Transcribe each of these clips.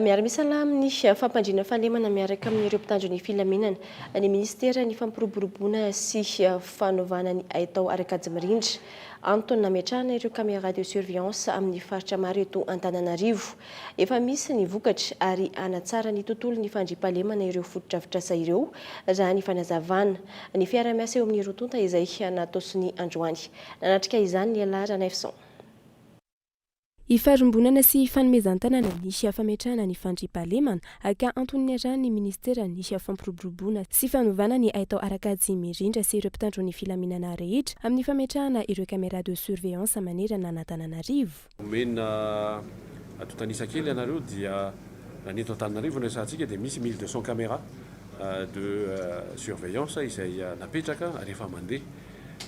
Miara misalahy amin'ny fampandriana fahalemana miaraka amin'ireo mpitandro ny filaminana ny minisiteran'ny Fampiroboroboana sy fanovana ny haitao ary kajy mirindra. Antony nametrahana ireo caméras de surveillance amin'ny faritra maro eto Antananarivo. Efa misy ny vokatra ary hanatsara ny tontolon'ny fandriampahalemana ireo fotodrafitrasa ireo raha ny fanazavana ny fiarahamiasa eo amin'ny roa tonta izay natosiny androany. Nanatrika izany Lehilahy Ranaivoson. Ifarimbonana sy ifanomezan-tanana ny fametrahana ny fandriampahalemana, aka antony niarahan'ny Minisitera ny fampiroboroboana sy fanovana ny haitao ara-kajy mirindra sy ireo mpitandro ny filaminana rehetra amin'ny fametrahana ireo caméras de surveillance manerana an'Antananarivo. Omena antontan'isa kely ianareo dia raha ny eto Antananarivo no resahantsika dia misy mille deux cents caméras de surveillance izay napetraka ary efa mandeha.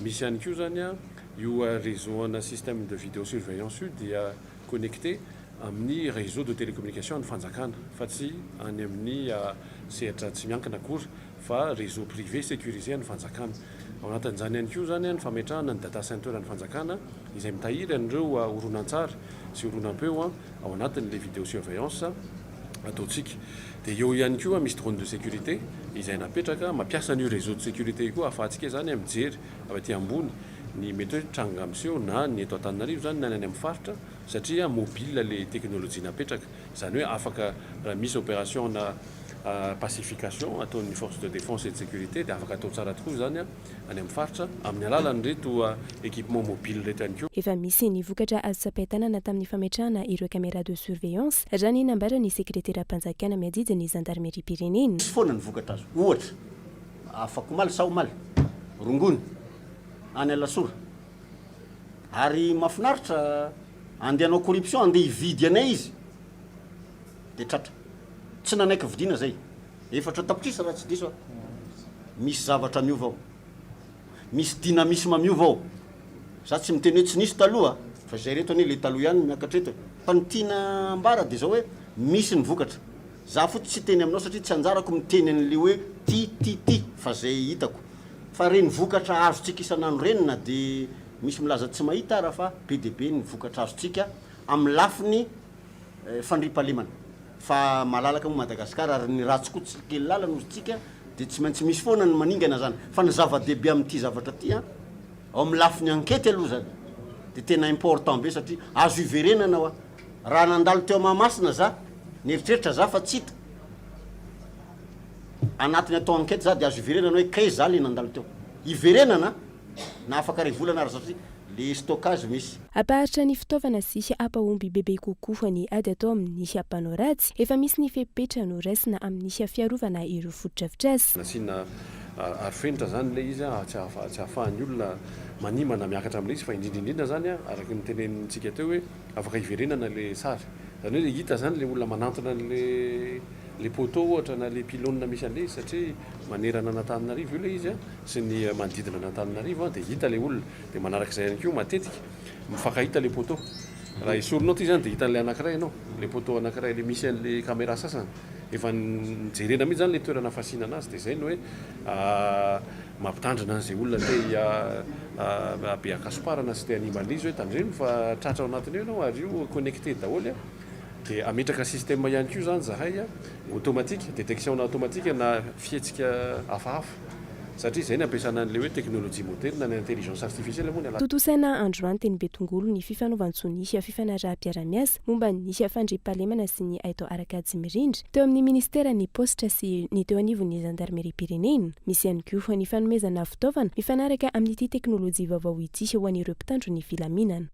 Misy ihany koa izany an, io réseau ana système de vidéo surveillance io dia connecté amin'ny réseau de télécommunication an'ny fanjakana fa tsy any amin'ny sehatra tsy miankina akory fa réseau privé sécurisé an'ny fanjakana. Ao anatin'izany ihany koa izany an ny fametrahana ny data center an'ny fanjakana izay mitahiry an'ireo horonantsary sy horonam-peo ao anatin'ilay vidéo surveillance. ataontsika. Dia eo ihany koa misy drone de sécurité izay napetraka, mampiasa an'io réseau de sécurité io koa ahafahantsika izany mijery avy aty ambony ny mety hoe tranga miseho na ny eto Antananarivo izany na ny any amin'ny faritra satria mobile ilay teknolojia napetraka. Izany hoe afaka raha misy opération na pacification ataon'ny force de défense et de sécurité dia afaka atao tsara tokoa izany. any amin'ny faritra amin'ny alalan'ireto équipements mobiles ireto ihany koa. Efa misy ny vokatra azo tsapain-tanana tamin'ny fametrahana ireo caméras de surveillance, raha ny nambaran'ny sekreteram-panjakana miadidy ny zandarimeriam-pirenena. Misy foana ny vokatra azo, ohatra, afakomaly sa omaly, rongony, any Alasora. Ary mahafinaritra, andeha hanao corruption, andeha hividy anay izy. Dia tratra. Tsy nanaiky vidiana izay. Efatra tapitrisa raha tsy diso aho. Misy zavatra miova ao. Misy dynamisme miova ao. Za tsy miteny hoe tsy nisy taloha fa izay reto anie ilay taloha ihany no miakatra eto e. Fa ny tiana ambara dia izao hoe misy ny vokatra. Za fotsiny tsy hiteny aminao satria tsy anjarako miteny an'ilay hoe ty, ty, ty fa izay hitako. Fa ireny vokatra azontsika isan'andro ireny na dia misy milaza tsy mahita ara fa be dia be ny vokatra azontsika amin'ny lafiny fandriampahalemana fa malalaka moa Madagascar ary ny ratsy koa tsy kely lala noho tsika dia tsy maintsy misy foana ny maningana zany fa ny zava-dehibe amin'ity zavatra ity an ao amin'ny lafiny ankety aloha zany dia tena important be satria azo hiverenana hoa raha nandalo teo Mahamasina za nieritreritra za fa tsy hita anatiny atao ankety za dia azo hiverenana hoe kay za le nandalo teo hiverenana na afaka ray volana ary satria le stockage misy Hampaharitra ny fitaovana sy hampahomby bebe kokoa ny ady atao amin'ny mpanao ratsy, efa misy ny fepetra noraisina amin'ny fiarovana ireo fotodrafitrasa. Nasiana arofenitra izany ilay izy tsy ahafahan'ny olona manimba na miakatra amin'ilay izy fa indrindra indrindra izany araka ny notenenintsika teo hoe afaka hiverenana ilay sary. Izany hoe hita izany ilay olona manantona an'ilay poteau ohatra na ilay pylone misy an'ilay izy satria manerana an'Antananarivo io ilay izy sy ny manodidina an'Antananarivo dia hita ilay olona. Dia manaraka izay ihany koa matetika mifankahita ilay poteau. Raha esorinao ity izany dia hitan'ilay anankiray ianao, ilay poteau anankiray, ilay misy an'ilay caméra sasany. Efa jerena mihitsy izany ilay toerana fasiana an'azy. Dia izay no hoe mampitandrina an'izay olona te hiha-be an-kasomparana sy te hanimba an'izy hoe tandremo fa tratra ao anatiny ao ianao ary io connecté daholo. Dia hametraka système ihany koa izany izahay automatique, détection-na automatique na fihetsika hafahafa. Satria izay ny ampiasana an'ilay hoe teknolojia modely na ny intelligence artificielle moa ny alalan'izany. Tontosaina androany teny Betongolo ny fifanovan-tsoa ny fifanaraham-piarahamiasa momba ny fandriampahalemana sy ny haitao ara-kajy mirindra teo amin'ny minisiteran'ny paositra sy ny teo anivon'ny zandarimeriam-pirenena. Misy ihany koa ny fanomezana fitaovana mifanaraka amin'ity teknolojia vaovao ity ho an'ireo mpitandro ny filaminana.